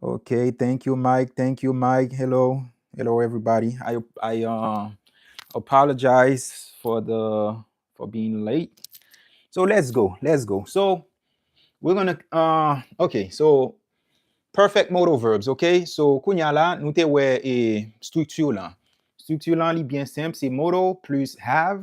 Okay, thank you Mike, thank you Mike, hello, hello everybody, I I uh, apologize for the for being late. So let's go, let's go. So we're gonna uh, okay, so perfect modal verbs, okay? So kounya la nou te wè e structure lan. Structure lan li byen senp, se modal plus have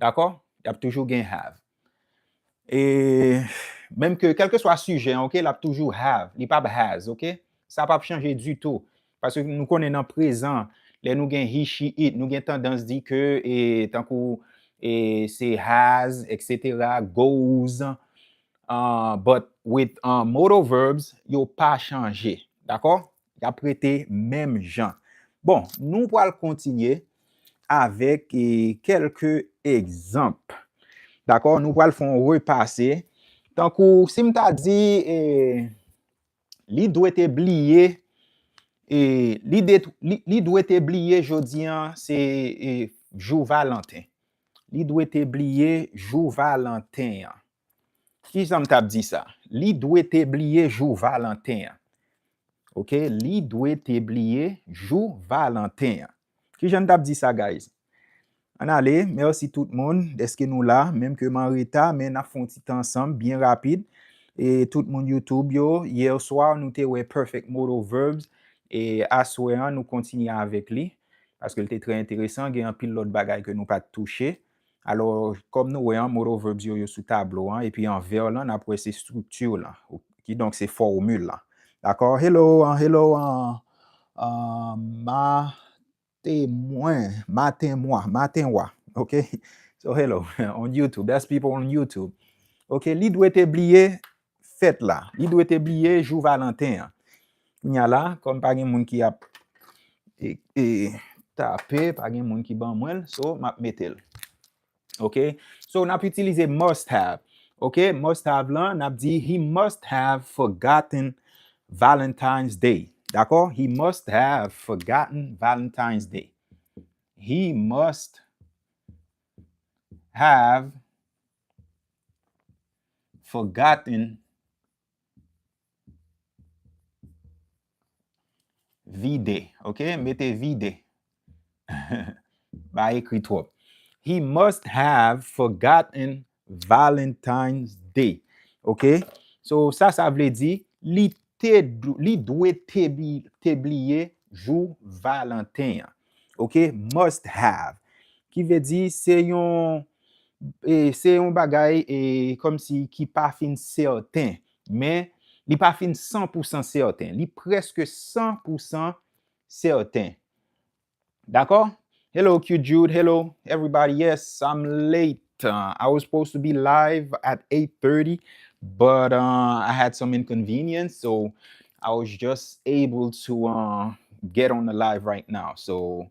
Dakò? Y ap toujou gen have. E menm ke kèlkeswa sijè an ok l ap toujou have, li pap has ok. Sa pap chanje ditou. Paske nou konnen nan prezan lè nou gen he, she, it nou gen tandans di ke e tankou e se has etc. Goes an but with modal verbs yo pa chanje. Dakò? Y ap rete menm jan. Bon, nou pral kontinye avèk kèlke egzanp. Dakò? Nou pral fè yon repase. Tankou, si m ta di, li dwe te bliye, li dwe te bliye jodi an se jou Valanten. Li dwe te bliye jou Valanten an. Kijan m tap di sa? Li dwe te bliye jou Valanten an. Ok, li dwe te bliye jou Valanten an. Kijan n tap di sa guys? Ann ale, mèsi tout moun dèske nou la, menm ke m an reta men nap fè yon ti tan ansanm byen rapid. E tout moun YouTube yo, yèswa nou te wè Perfect Modal Verbs e aswè an nou kontinye avèk li paske l te trè enteresan, gen anpil lòt bagay ke nou pat touche. Alò, kòm nou wè an, modal verbs yo, yo sou tablo an, epi an vè lan, n ap wè se structure lan, kidonk se fòmil lan. Dakò? Hello, an, hello, an, an, ma, te, mwen, maten, mwa, maten, wa, ok? So, hello, on YouTube, that's people on YouTube. Ok, li dwe te bliye, fèt la. Li dwe te bliye jou Valanten an. Kounye a la, kòm pa gen moun ki ap tape, pa gen moun ki ban mwen l, so m ap mete l. Ok? So, n ap itilize must have. Ok? Must have lan, n ap di, He must have forgotten Valentine's Day. Dakò? He must have forgotten Valentine's Day. He must have Forgotten Vide ok mete vide Pa ekri twòp He must have forgotten Valentine's Day Ok So sa sa vle di Li te Li dwe te te bliye jou Valanten an Ok Must have Ki vle di se yon e se yon bagay e kòm si ki pa fin sèten men li pa fin san pou san sèten li prèske san pou san sèten dakò hello cute jude hello everybody yes I'm late I was supposed to be live at 8:30 but I had some inconvenience so I was just able to uh, get on the live right now so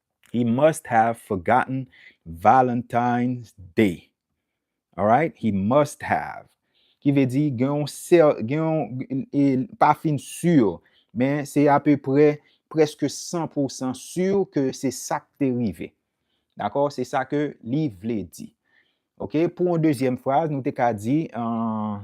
He must have forgotten Valentine's Day. Alright? He must have. Ki ve di gen yon sèl, gen yon, e pa fin sur, men se ape pre, preske 100% sur ke se sa k te rive. Dakò? Se sa ke li vle di. Ok? Pou yon dezyèm fraz, nou te ka di, an,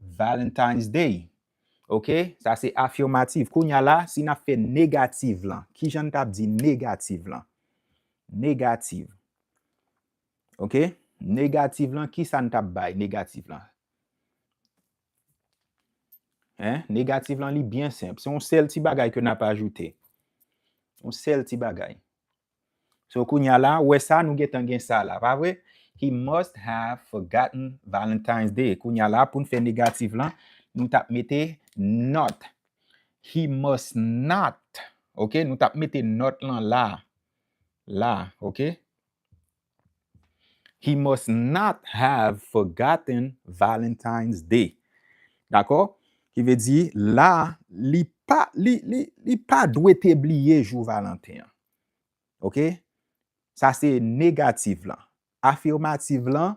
Valentine's Day Ok sa se afirmative kounya la si nap fè negative lan kijan n tap di negative lan negative ok negative lan kisa n tap bay negative lan hein negative lan li byen senp se yon sèl ti bagay ke nap ajoute yon sèl ti bagay So kounya la, wè sa nou gentan gen sa la, pa vre? He must have forgotten Valentine's Day. Kounya la, pou n fè negatif lan, nou t ap mete not. He must not, ok, nou t ap mete not lan la. La, ok. He must not have forgotten Valentine's Day. Dakò? Ki vle di, la, li pa, li, li, li pa dwe te bliye jou Valanten an. Ok? Sa se negative lan. Affirmative lan,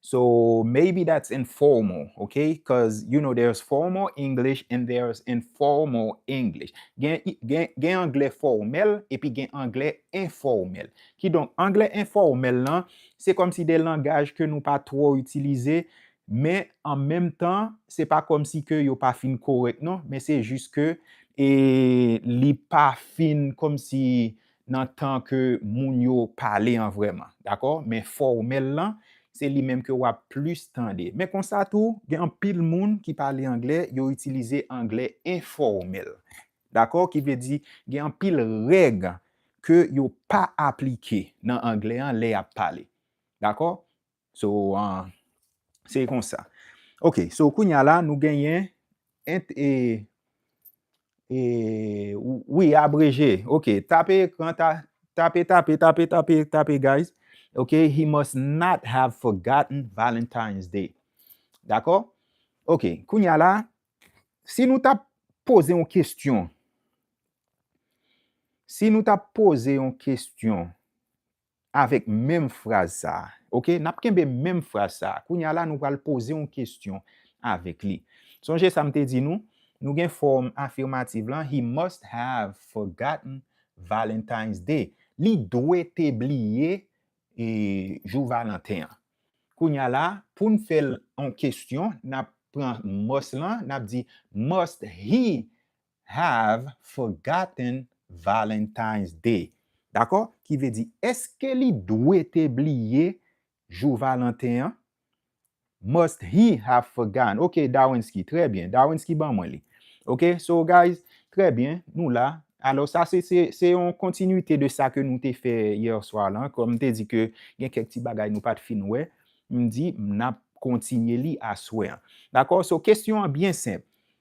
So maybe that's informal, ok? Cuz you know there's formal English and there's informal English. Gen gen gen anglè fòmèl epi gen anglè enfòmèl. Kidonk anglè enfòmèl lan se kòmsi de langaj ke nou pa twò itilize men an menm tan se pa kòmsi ke yo pa fin korèk non men se jis ke e li pa fin kòmsi nan tan ke moun yo pale an vrèman, dakò? Men fòmèl lan, se li menm ke w ap plis tande. Men konsa tou, gen anpil moun ki pale anglè, yo itilize anglè enfòmèl, dakò? Ki vle di, gen anpil règ ke yo pa aplike nan anglè an lè y ap pale, dakò? So, se kon sa. Ok, so koun ya la nou genyen int e, e, wi abreje, ok, tape ekran, tape, tape, tape, tape, tape guys, ok, he must not have forgotten Valentine's Day. Dakò? Ok, koun ya la, si nou ta poze yon kestyon, si nou ta poze yon kestyon, Avèk menm fraz sa a. Ok, n ap kenbe menm fraz sa a. Kounye a la, nou pral poze yon kesyon avèk li. Sonje sa m te di nou, nou gen fòm afimativ lan, He must have forgotten Valentine's Day. Li dwe te bliye jou Valanten an. Kounye a la, pou n fè l an kesyon, n ap pran must lan, n ap di, Must he have forgotten Valentine's Day. Dakò? Ki vle di, èske li dwe te bliye jou Valanten an? Must he have forgotten? Ok, Darwinski. Trè byen. Darwinski ban mwen li. Ok, so guys, trè byen, nou la. Alò, sa se, se yon kontinwite de sa ke nou te fè yè swa lan. Kòm m te di ke gen kèk ti bagay nou pa t fin wè, m di n ap kontinye li aswè an. Dakò? So, kesyon an byen senp.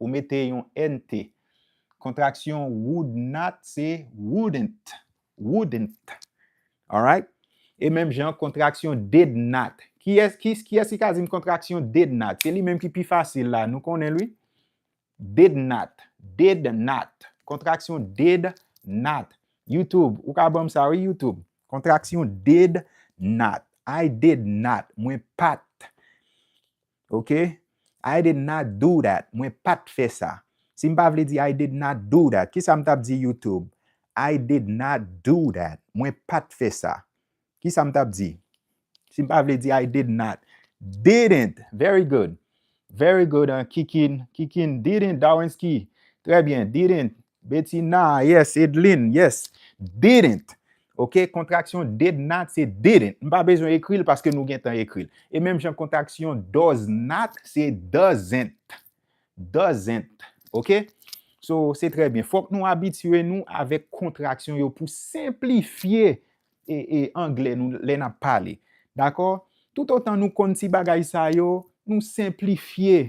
Ou mete yon nt. Kontraksyon would not se wouldn't. Wouldn't. Alright? E menm jan kontraksyon did not. Kiyès kiyès ki ka di m kontraksyon did not? Se li menm ki pi fasil la. Nou konnen l wi. Did not. Did not. Kontraksyon did not. YouTube, ou ka ban m sa wi YouTube. Kontraksyon did not. I did not. Mwen pa t. ok I did not do that mwen pat fè sa si m pa vle di I did not do that kisa m tap di youtube I did not do that mwen pat fè sa kisa m tap di si m pa vle di I did not didn't very good very good kikin kikin didn't darwinsky trè byen didn't betina yes edline yes didn't Ok kontraksyon did not se didn't m pa bezwen ekri l paske nou gentan ekri l e menm jan kontraksyon does not se doesn't doesn't ok so se trè byen fòk nou abitye nou avèk kontraksyon yo pou senplifye e e anglè nou lè n ap pale dakò toutotan nou konn ti bagay sa yo nou senplifye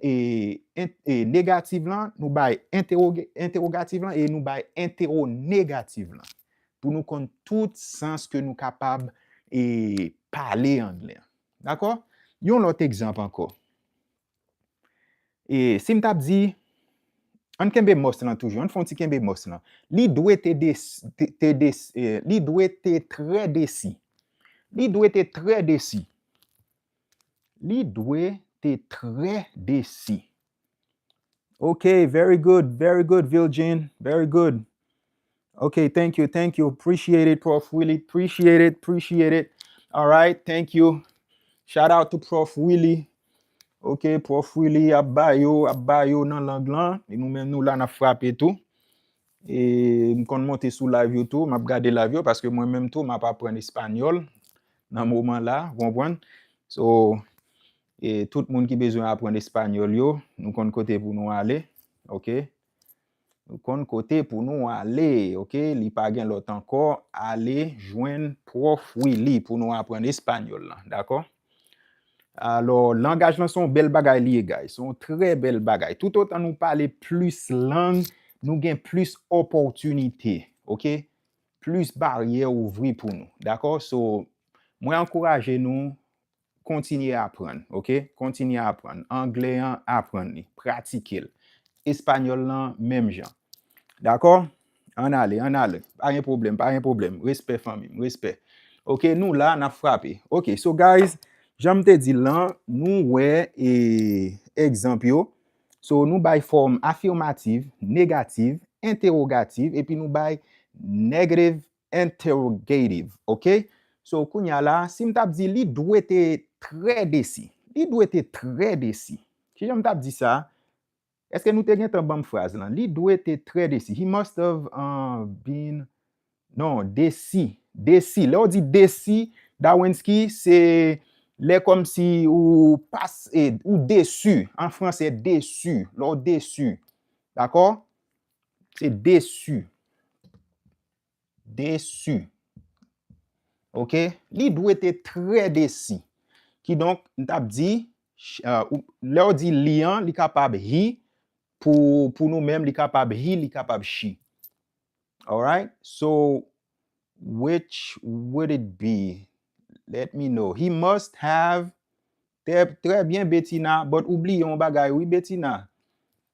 e negativ lan, nou bay entewogativ lan e nou bay entewonegativ lan pou nou konn tout sans ke nou kapab e pale anglè. Dakò? Yon lòt egzanp ankò. E si m t ap di, ann kenbe mòs lan toujou, ann fè yon ti kenbe mòs lan. Li dwe te desi, li dwe te trè desi. Li dwe te trè desi. Li dwe te trè desi. Ok very good very good Vilgin very good ok thank you thank you appreciate it prof Willy appreciate it appreciate it alright thank you shout out to prof Willy ok prof Willy ap ba yo ap ba yo nan lang lan e nou menm nou la nap frape tou E m konn monte sou live yo tou, m ap gade live yo paske mwen menm tou m ap aprann espanyòl nan moman la, ou konprann? So, e tout moun ki bezwen aprann espanyòl yo, nou konn kote pou nou ale, ok? Nou konn kote pou nou ale, ok? Li pa gen lòt ankò, ale jwenn Pwòf Willy pou nou aprann espanyòl lan, dakò? Alò, langaj lan se yon bèl bagay li ye guys. Se yon trè bèl bagay. Tout otan nou pale plis lang, nou gen plis opòtinite. Ok? Plis baryè ouvri pou nou. Dakò? So, mwen ankouraje nou, kontinye aprann. Ok? Kontinye aprann. Anglè an, aprann li. Pratike l. Espanyòl lan, menm jan. Dakò? Ann ale, ann ale. Pa gen pwoblèm, pa gen pwoblèm. Respè fanmi m, respè. Ok, nou la, n ap frape. Ok, so guys, jan m te di l lan, nou wè e egzanp yo. So, nou bay fòm afimativ, negativ, entewogativ, epi nou bay negativ entewogativ. Ok? So, kounye a la, si m t ap di li dwe te trè desi. Li dwe te trè desi. Ki jan m t ap di sa? Eske nou te gentan banm fraz lan? Li dwe te trè desi. He must have been Non, desi. Desi. Lè ou di desi, Dawensky, se lè kòmsi ou pas e, ou desu. An franse, desu. Lè ou desu. Dakò? Se desu. Desi. Ok, li dwe te trè desi. Ki donk, m tap di, lè w di li an, li kapab he, pou nou menm, li kapab he, li kapab she. Alright, so, which would it be? Let me know. He must have, trè byen Betina, but ou bliye yon bagay wi Betina.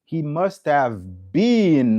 He must have been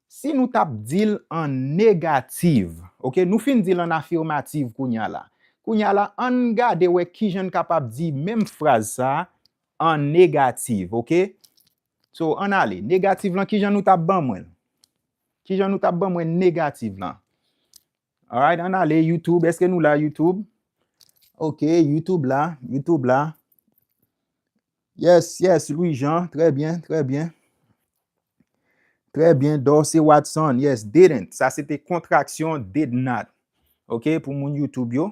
Si nou tap di l an negativ, ok, nou fin di l an afirmativ kounye a la. Kounye a la, an n gade wè ki jan n kapab di menm fraz sa a an negativ, ok. So, an n ale. Negativ lan, ki jan nou tap ban mwen l? Ki jan nou tap ban mwen negativ lan? Alright an ale youtube eske nou la youtube ok youtube la youtube la yes yes Louis Jean trè byen trè byen trè byen Dorcé Watson yes didn't sa se te kontraksyon did not ok pou moun youtube yo.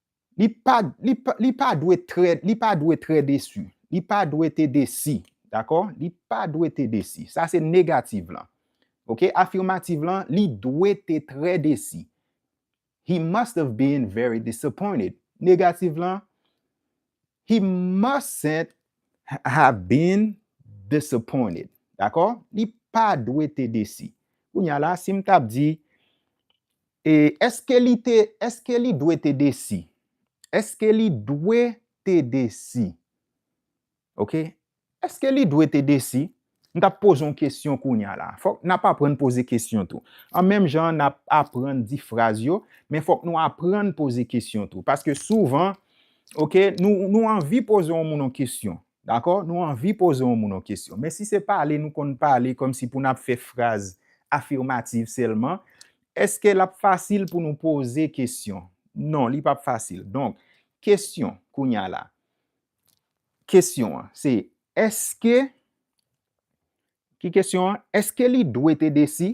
Li pa, li pa, li pa dwe trè, li pa dwe trè desi. Li pa dwe te desi. Dakò? Li pa dwe te desi. Sa se negativ lan. Ok? Afimativ lan, li dwe te trè desi. He must have been very disappointed. Negativ lan, He mustn't have been disappointed. Dakò? Li pa dwe te desi. Kounya la, si m t ap di, E èske li te, èske li dwe te desi? Èske li dwe te desi? Ok, èske li dwe te desi? M t ap poze yon kesyon kounya la. Fòk n ap aprann poze kesyon tou. An menm jan n ap aprann di fraz yo, men fòk nou aprann poze kesyon tou. Paske souvan, ok, nou anvi poze yon moun yon kesyon. Dakò, nou anvi poze yon moun yon kesyon. Men si se pale nou konn pale kòm si pou n ap fè fraz afimativ sèlman, èske l ap fasil pou nou poze kesyon? Non, li p ap fasil. Donk, kesyon, kounye a la, kesyon an, se èske, ki kesyon an? Èske li dwe te desi?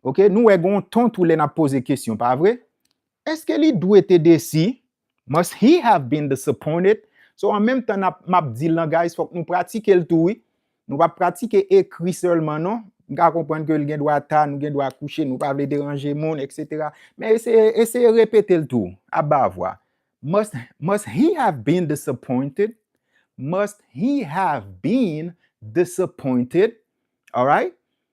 Ok nou wè gon ton tou lè nap poze kesyon pa vre? Eske li dwe te desi? Must he have been disappointed? So an menm tan nap map di lan guys fòk nou pratike l tou wi. Nou pa pratike ekri sèlman non. M ka konprann ke l gen dwa ta, nou gen dwa kouche, nou pa vle deranje moun etc. Men eseye eseye repete l tou a ba vwa. Must must he have been disappointed? Must he have been disappointed? Alright?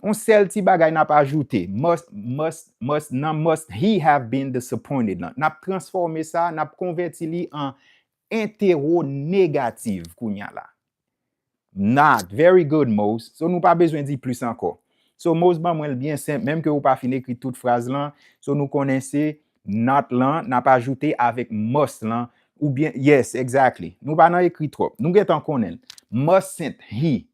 On sèl ti bagay nap ajoute, must, must, must, nan must he have been disappointed lan, nap transfòme sa, nap konvèti li an entewonegativ kounya la. Not, Very good, Mose. So nou pa bezwen di plis ankò. So Mose ban mwen l byen senp, menm ke ou pa fin ekri tout fraz lan, so nou konnen se not lan nap ajoute avèk must lan, oubyen, yes, exactly. Nou pa nan ekri twòp. Nou gentan konnen l. Mustn't he,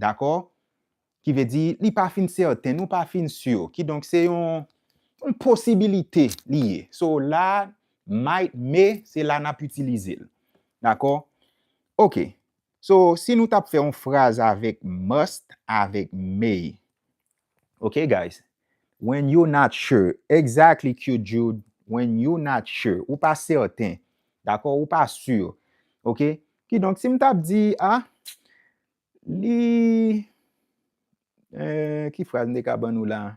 Dakò? Ki vle di, li pa fin sèten, nou pa fin sur. Kidonk, se yon posibilite li ye. So, la, might, may, se la nap itilize l. Dakò? Ok. So, si nou tap fè yon fraz avèk must, avèk may. Ok guys When you're not sure Exactly Cute Jude When you're not sure Ou pa sèten Dakò Ou pa sur Ok Kidonk si m tap di a Li Eee Ki fraz m te ka ban nou la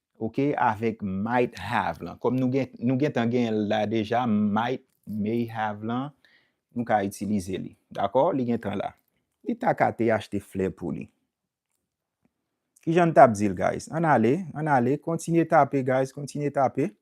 Ok avèk might have lan kòm nou gentan genyen l la deja might, may have lan nou ka itilize li dakò li gentan la li ta ka te achte flè pou li kijan n t ap di l guys ann ale ann ale kontinye tape guys kontinye tape.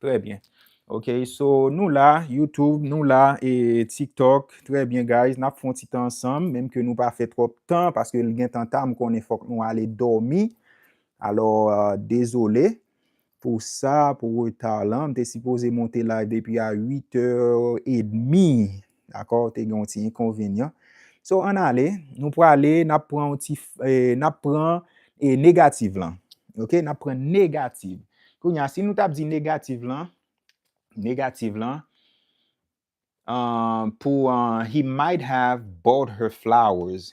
Trè byen ok so nou la YouTube nou la e tiktok trè byen guys nap fon ti tan ansanm menm ke nou pa fè twòp tan paske li gentan ta m konnen fòk nou ale dòmi alò dezole pou sa pou reta lan m te sipoze monte live depi a 8 è edmi dakò te gen yon ti enkonvenyan so ann ale nou prale nap pran yon ti nap pran e negativ lan ok nap pran negativ kounye a si nou tap di negativ lan negativ lan an pou an he might have bought her flowers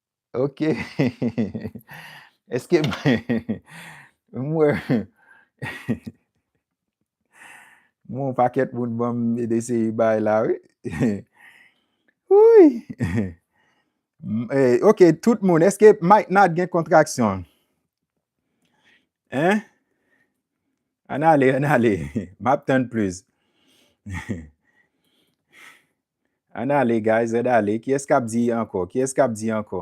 Ok Eske M wè M wè yon pakèt moun banm dese bay la wi Wouyy Ok tout moun eske Mike Nat gen kontraksyon Hein Ann ale ann ale Map tann plis Ann ale guys red ale kiyes kap di anko kiyes kap di anko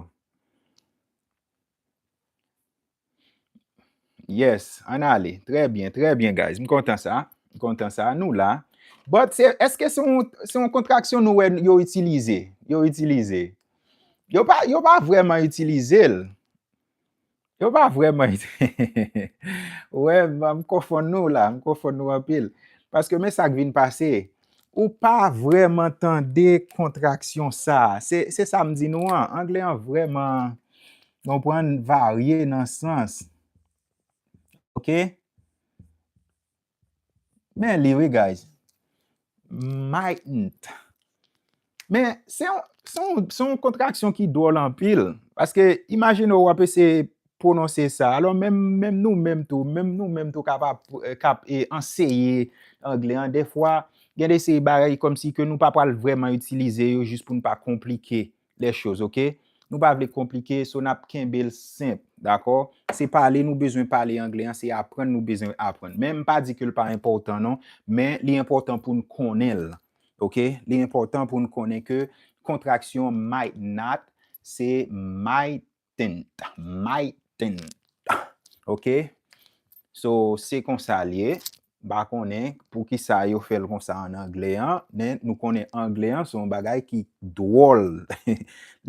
yes ann ale trè byen trè byen guys m kontan sa m kontan sa nou la but se eske se yon se yon kontraksyon nou wè yo itilize yo itilize yo pa yo pa vreman itilizel Yo pa vreman itilize. Wè, m konfonn nou la, m konfonn nou anpil. Paske men sa k vin pase, ou pa vreman tande kontraksyon sa. Se sa m di nou an, angle an vreman, konprann, varye nan sans. Ok? Men li wi guys. Maitnnt. Men se yon se yon kontraksyon ki dwòl anpil. Paske imajine ou ap eseye pwononse sa. Alò menm menm nou menm tou. Menm nou menm tou kap ap kap e anseye angle an. Defwa gen de seri bagay kòmsi ke nou pa pwal vreman itilize yo jis pou nou pa konplike les choses ok nou pa vle konplike so nap kenbel senp dakò se pale nou bezwen pale anglè an se aprann nou bezwen aprann menm pa di kel pa enpòtan non men li enpòtan poun konnenl ok li enpòtan poun konnen ke kontraksyon might not se might tent my tent ok so se konsa li ye pa konnen pou kisa yo fèl konsa an anglè an men nou konnen anglè an son bagay ki dwòl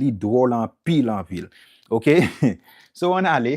li dwòl anpil anpil ok so an ale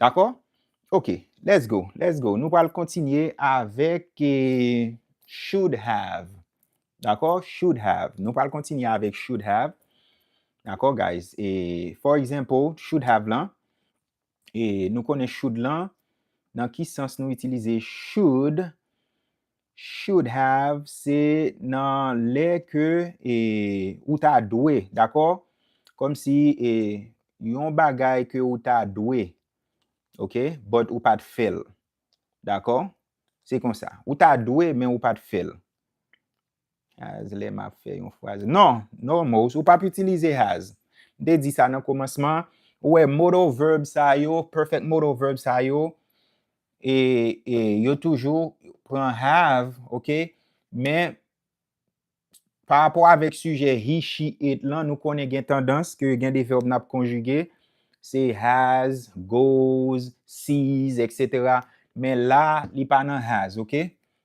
Dakò? Ok, let's go, let's go. Nou pral kontinye avèk should have. Dakò? Should have. Nou pral kontinye avèk should have. Dakò, guys? For example, should have lan. E nou konnen should lan, nan ki sans nou itilize should Should have se nan lè ke e ou ta dwe, dakò? Kòm si e yon bagay ke ou ta dwe, ok, but ou pa t fè l. Dakò? Se konsa. Ou ta dwe men ou pa t fè l. Has lè map fè yon fraz non normals ou pap itilize has m te di sa nan komansman ou wè modal verb sa yo perfect modal verb sa yo e, e yo toujou pran have ok men pa rapò avèk sijè he she it lan nou konnen gen tandans ke gen de verb nap konjige se has goes sees etc men la li pa nan has ok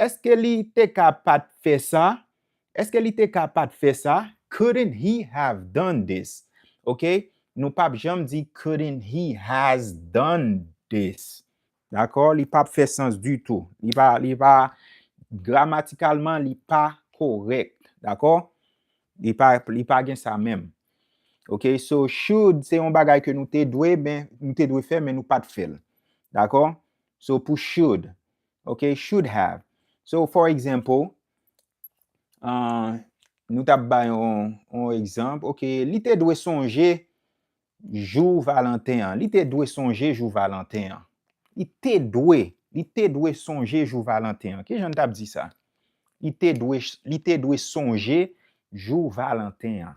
Eske li te ka pat fè sa? Eske li te ka pat fè sa? Couldn't he have done this? Ok, nou pap janm di couldn't he has done this. Dakò? Li pap fè sans ditou. Li pa, li pa, gramatikalman li pa korèk. Dakò? Li pa, li pa gen sa menm. Ok, so should se yon bagay ke nou te dwe, men, nou te dwe fè men nou pat fè l. Dakò? So pou should, Ok, should have. So, for example, uh, nou tap bay yon, yon egzamp, ok, li te dwe sonje jou Valentin an. Li te dwe sonje jou Valentin an. Li te dwe, li te dwe sonje jou Valentin an. Ki jan tap di sa? Li te dwe, li te dwe sonje jou Valentin an.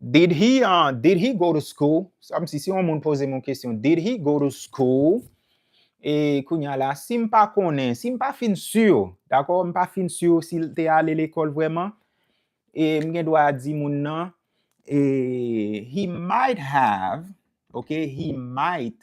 Did he uh did he go to school? Sa msi si yon moun poze m yon kesyon, did he go to school? E kounya la, si m pa konnen, si m pa fin sur, dakò, m pa fin sur si l te ale lekòl vrèman, e m gen dwa di moun nan, e he might have, ok, he might,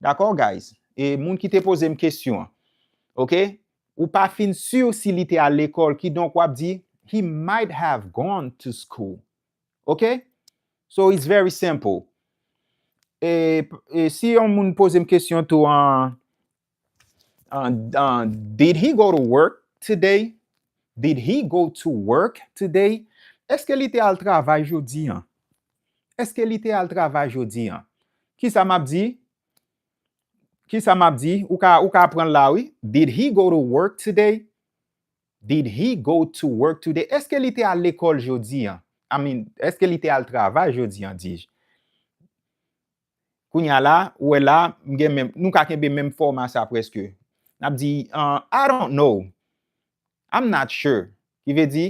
Dakò guys e moun ki te pozem kesyon an ok ou pa fin sur si li te al lekòl kidonk wap di he might have gone to school ok so it's very simple e si yon moun pozem kesyon tou an Uh, uh, did he go to work today? Did he go to work today? Eske li te al travay jodi an? Eske li te al travay jodi an? Ki sa map di? Ki sa map di? Ou ka, ou ka pran la wi. Did he go to work today? Did he go to work today? Eske li te al lekòl jodi an? I mean, eske li te al travay jodi an, dij? Kounya la, ou wè la, m gen menm, nou ka kenbe menm fòma sa prèske. N ap di, I don't know. I'm not sure. Ki vle di,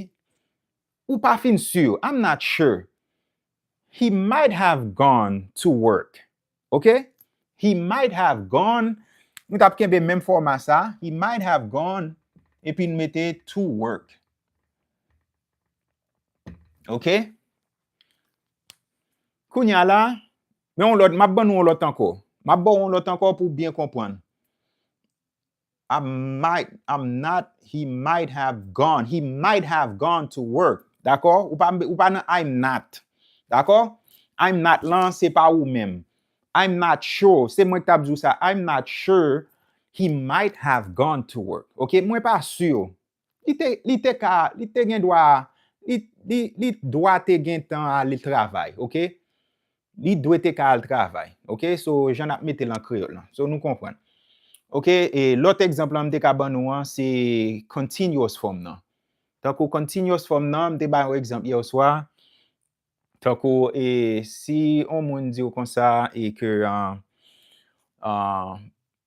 Ou pa fin si. I'm not sure. He might have gone to work. Ok? He might have gone, nou t ap kenbe menm fòma sa, he might have gone, epi nou mete to work. Ok? Kounye a la, men yon lòt, m ap ban nou yon lòt ankò. M ap ba w yon lòt ankò pou w byen konprann. I might, I'm not, he might have gone, he might have gone to work. Dakò? Ou pa, ou pa nan I'm not. Dakò? I'm not lan, se pa ou menm. I'm not sure, se mwen ki t ap di w sa. I'm not sure he might have gone to work. Ok? Mwen pa sur. Li te, li te ka, li te gen dwa, li, li, li dwa te gentan al travay, ok. Li dwe te ka al travay, ok. So, jan n'ap mete l an kreyòl lan. So, nou konprann. Ok, e lòt egzanp lan m te ka ban nou an, se continuous form nan. Tankou continuous form nan, m te bay yon egzanp yèswa, tankou e si yon moun di w konsa e ke,